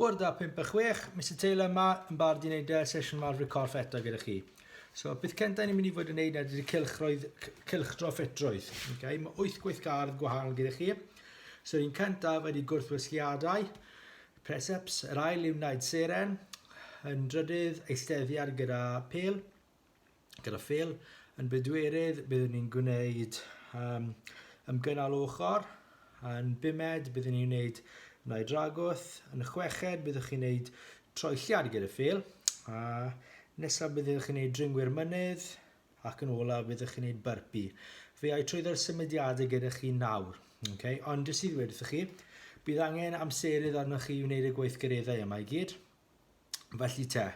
Bwrdd a 5 a 6, Mister Taylor yma yn barod i wneud y sesiwn yma ar corff eto gyda chi. So, beth cyntaf ni'n mynd i fod yn wneud ydy'r cylchroedd, cylchdro ffitrwydd. Okay? Mae 8 gweithgardd gwahanol gyda chi. So, yr un cyntaf ydy gwrthwysgiadau, preseps, yr ail yw wneud seren, yn drydydd eisteddiad gyda pel, gyda Phil yn bedwerydd, byddwn ni'n gwneud um, ymgynnal ochr. Yn bumed, byddwn ni'n gwneud nau dragwth. Yn y chweched, byddwch chi'n gwneud troelliad gyda Phil. A nesaf, byddwch chi'n gwneud dringwyr mynydd. Ac yn olaf, byddwch chi'n gwneud byrpi. Fe ai trwy ddo'r symudiadau gyda chi nawr. Okay? Ond jyst i ddweud wrthych chi, bydd angen amserydd arnoch chi i wneud y gweithgareddau yma i gyd. Felly te,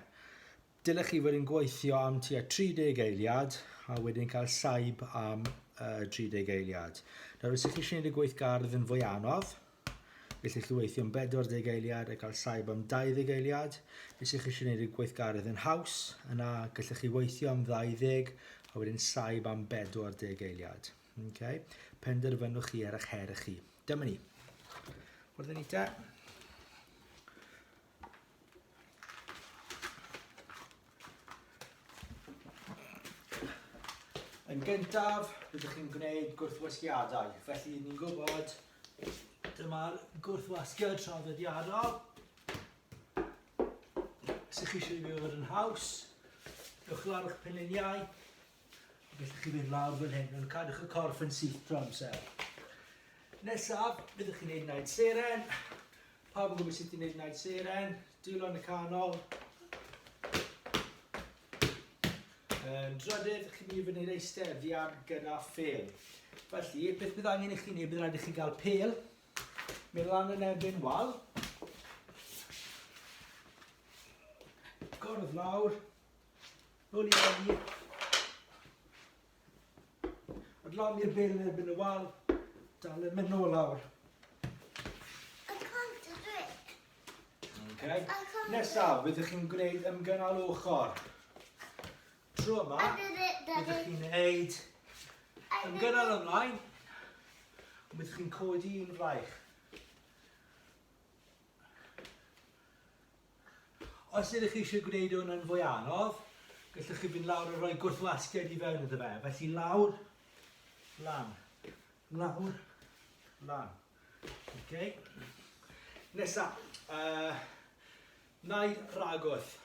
dylech chi fod yn gweithio am tua 30 eiliad a wedyn cael saib am uh, 30 eiliad. Nawr, os ydych chi eisiau gwneud y gweithgardd yn fwy anodd, felly chi weithio am 40 eiliad a cael saib am 20 eiliad. Os ydych chi eisiau gwneud y gweithgardd yn haws, yna gallwch chi weithio am 20 a wedyn saib am 40 eiliad. Okay? Penderfynwch chi ar eich her chi. Dyma ni. Wrth ni te. Yn gyntaf, rydych chi'n gwneud gwrthwasgiadau. Felly, ni'n gwybod, dyma'r gwrthwasgiad traddodiadol. Sych chi eisiau ei fod yn haws, ewch lawr eich penuniau, A beth chi'n mynd lawr fan hyn, yn cadwch y corff yn syth trwy amser. Nesaf, byddwch chi'n gwneud naid seren. Pawb yn gwybod sut i'n gwneud naid seren. Dwylo yn y canol. Yn drydydd, chi'n mynd i fyny'r eistedddiad gyda ffel. Felly, beth bydd angen i chi wneud, bydd rhaid i chi gael pel, mynd lan yn erbyn wal, gordd lawr, Nôl i Dani. Adlan i'r bel yn erbyn y wal. Dal yn mynd nôl lawr. Okay. Nesaf, byddwch chi'n gwneud ymgynnal ochr. Tro yma, byddwch chi'n gwneud ymgynnal ymlaen. Byddwch chi'n codi un fraich. Os ydych chi eisiau gwneud hwn yn fwy anodd, gallwch chi fynd lawr a rhoi gwrthlasgiad i fewn iddo fe. Felly lawr, lan, lawr, lan. Okay. Nesa, uh, naid ragwth.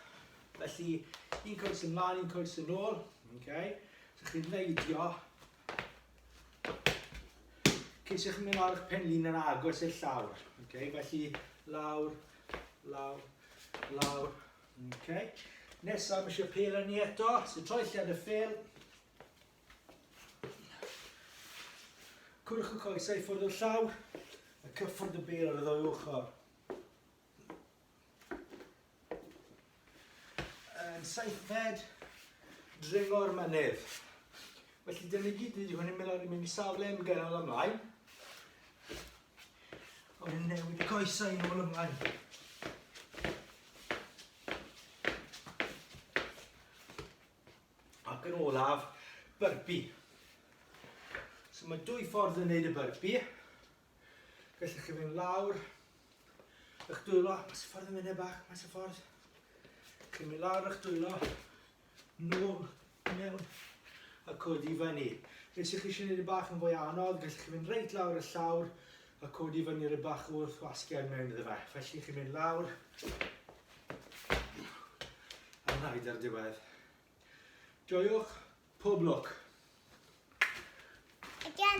Felly, un coes ymlaen, un coes yn ôl. Okay. So chi'n neidio Ceisiwch chi'n mynd lawr eich penlin yn agos i'r llawr. Okay, felly lawr, lawr, lawr. Okay. Nesaf, mae eisiau pel yn ni eto. So troi lled y ffel. Cwrwch y coesau ffwrdd o'r llawr. A cyffwrdd y bel ar y ddwy ochr. Yn seithfed, dringo'r mynydd. Felly dyn ni gyd wedi hwn yn mynd ar i mynd i safle yn gynnar ymlaen. Ond yn newid y coesau yn ôl ymlaen. Ac yn olaf, byrbi. So mae dwy ffordd yn neud y byrbi. Gallwch chi fynd lawr eich dwylo, mas y ffordd yn mynd bach, mas y ffordd. Chi'n mynd lawr eich dwylo, nôl mewn a codi i fyny. Nes i chi eisiau gwneud y bach yn fwy anodd, gallwch chi fynd reit lawr y llawr a codi i fyny rhywbeth bach wrth wasgiad mewn iddo fe. Felly chi'n mynd lawr a rhaid ar diwedd. Joiwch, pob lwc! Again,